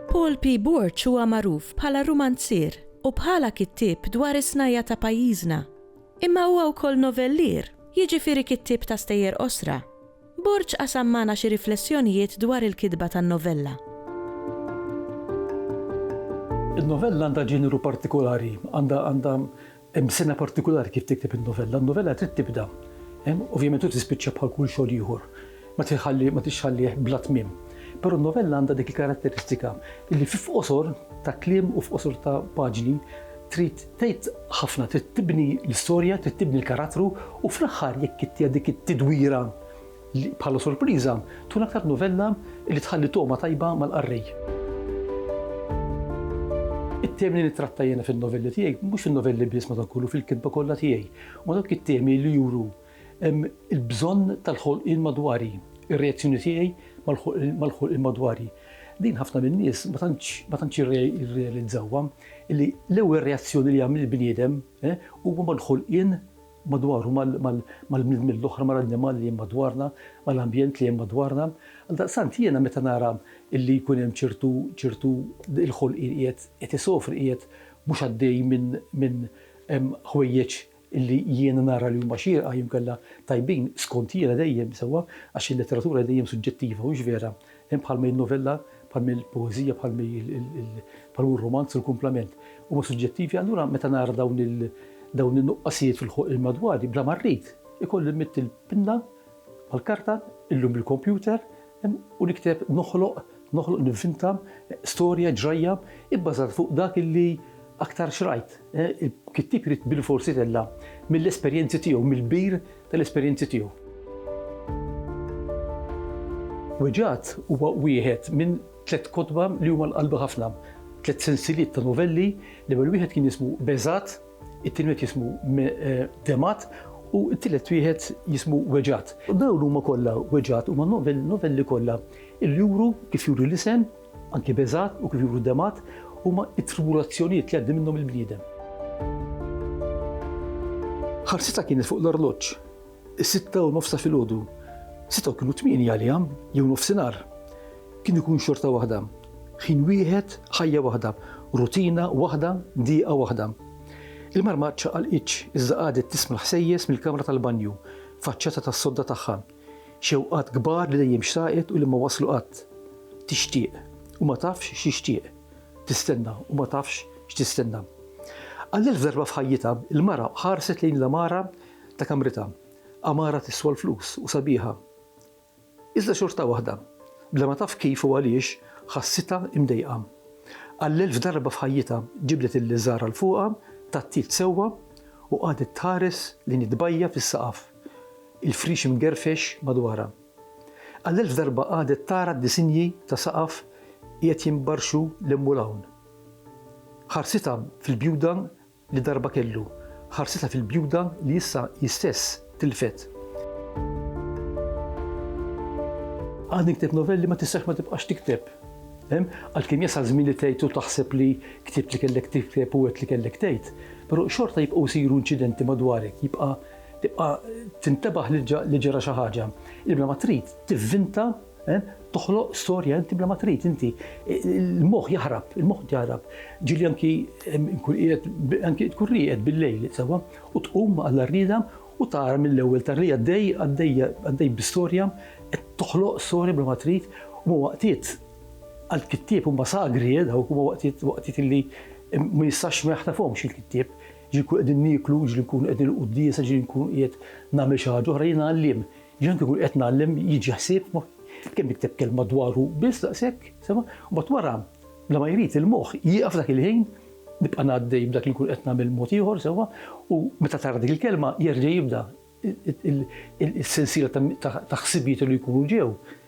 Paul P. Borg huwa magħruf bħala rumanzier u bħala kittieb dwar is-snajja ta' pajjiżna. Imma huwa wkoll novellier, jiġifieri kittieb ta' stejjer qosra. Borg qasam magħna xi riflessjonijiet dwar il-kitba tan-novella. In-novella għandha ġeneru partikolari, għandha għandha hemm sena partikolari kif tikteb in-novella. N-novella trid tibda, hemm, ovvjament u tispiċċa bħal kull xogħol ieħor. Ma tiħalli ma tixħallih bla tmiem. Però n-novella għandha dik il-karatteristika li fi f'qosor ta' kliem u f'qosor ta' paġni trid Tgħid ħafna, trid tibni l-istorja, trid tibni l-karattru u fl-aħħar jekk inti għandek it-tidwira li bħala sorpriża, tkun aktar novella li tħalli togħma tajba mal-qarrej. It-temi li nittratta jiena fin-novelli tiegħi, mhux fin-novelli biss madankollu fil-kitba kollha tiegħi, huma dawk it-temi li juru Il-bżonn tal-ħolqien madwari, ir-reazzjoni tiegħi mal-ħolqien madwari. Din ħafna min-nies ma tantx jirrealizzawha, li l-ewwel reazzjoni li jagħmel il-bniedem huwa mal-ħolqien madwaru, mal-bniedmin l-oħra, mal-annimali li hemm madwarna, mal-ambjent li hemm madwarna. Għaldaqstant jiena meta nara li jkun hemm ċertu l-ħolqien qiegħed isofri, qiegħed mhux għaddej minn ħwejjeġ, illi jiena nara li huma xierqa jew inkella tajbin skont jiena dejjem, sewwa, għax il-letteratura hi dejjem suġġettiva, hux vera? Hemm bħalma hi n-novella, bħalma hi l-poeżija, bħalma hi l, bħalma hu r-rumanz u l-kumplament. Huma suġġettivi, allura meta nara dawn il, dawn in-nuqqasijiet fil-ħolqien madwari, bla ma rrid, ikolli nmidd il-pinna Mal-karta, illum bil-kompjuter, u nikteb, noħloq, noħloq, nivvinta storja, ġrajja, ibbażata fuq dak li aktar xrajt. Il-kittieb irid bilfors itella' mill-esperjenzi tiegħu, mill-kbir tal-esperjenzi tiegħu. Weġgħat huwa wieħed minn tliet kotba li huma l-qalbi ħafna, tliet sensiliet ta' novelli, l-ewwel wieħed kien jismu Beżgħat, It-tieni wieħed jismu Demat u t-tielet wieħed jismu Weġgħat. Dawn huma kollha Weġgħat huma novelli kollha li juru kif juri l-isem, anki Beżgħat u kif juru Demat, huma t-tribulazzjonijiet li jgħaddi minnhom il-bniedem. Ħarsitha kienet fuq l-arloġġ. Is-sitta u nofs ta' filgħodu. Sitta u kienu tmieni għaliha, jew nofsinhar. Kien ikun xorta waħda. Ħin wieħed, ħajja waħda, rutina waħda, dieqa waħda. Il-mara ma ċċaqalqitx, iżda qagħdet tisma' l-ħsejjes mill-kamra tal-banju, faċċata tas-sodda tagħha. Xewqat kbar li dejjem xtaqet u li ma waslu qatt. Tixtieq, u ma tafx x'tixtieq. Tistenna, u ma tafx x'tistenna. Għall-elf darba f'ħajjitha, il-mara ħarset lejn l-għamara ta' kamritha għamara tiswa l-flus u sabiħa. Iżda xorta waħda, bla ma taf kif u għaliex, ħassitha imdejqa. Għall-elf darba f'ħajjitha ġibdet il-liżar għal fuqha, tgħattiet sewwa u qagħdet tħares lejn it-tbajja' fis-saqaf, il-friex imgerfex madwarha. Għall-elf darba qagħdet tara d-disinji ta' saqaf qiegħed jinbarxu 'l hemm u 'l hawn. Ħarsitha fil-bjuda li darba kellu ħarsitha fil-bjuda li issa hi stess tilfet. Għadni ktibt novelli ma tistax ma tibqax tikteb. Għalkemm jasal żmien li tgħid u taħseb li ktibt li kellek tikteb u għedt li kellek tgħid, però xorta jibqgħu jsiru inċidenti madwarek, jibqa' tibqa' tintebaħ li ġara xi ħaġa. Ilma ma trid tivvinta Toħloq storja inti bla ma trid inti. Il-moħħ jaħrab, il-moħħ jaħrab. Ġili anki nkun qiegħed anki tkun rieqed bil-lejl sewwa u tqum għal rrieda u tara mill-ewwel tarri għaddej għaddej għaddej bi-storja qed toħloq storja bla ma trid u waqtiet għall-kittieb huma sagri eh, dawk huma waqtiet waqtiet illi ma jistax ma jaħtafhomx il-kittieb ġi nkun qegħdin nieklu, ġi nkun qegħdin il-quddiesa, ġi nkun qiegħed nagħmel xi ħaġa oħra jiena għalliem. Jiena kieku qed ngħallem jiġi ħsieb kemm nikteb kelma dwaru biss daqshekk, sema, u mbagħad wara bla ma jrid il-moħħ jieqaf dak il-ħin nibqa' ngħaddej b'dak li nkun qed nagħmel mod ieħor sewwa u meta tara dik il-kelma jerġa' jibda is-sensiela ta' ħsibijiet li jkunu ġew.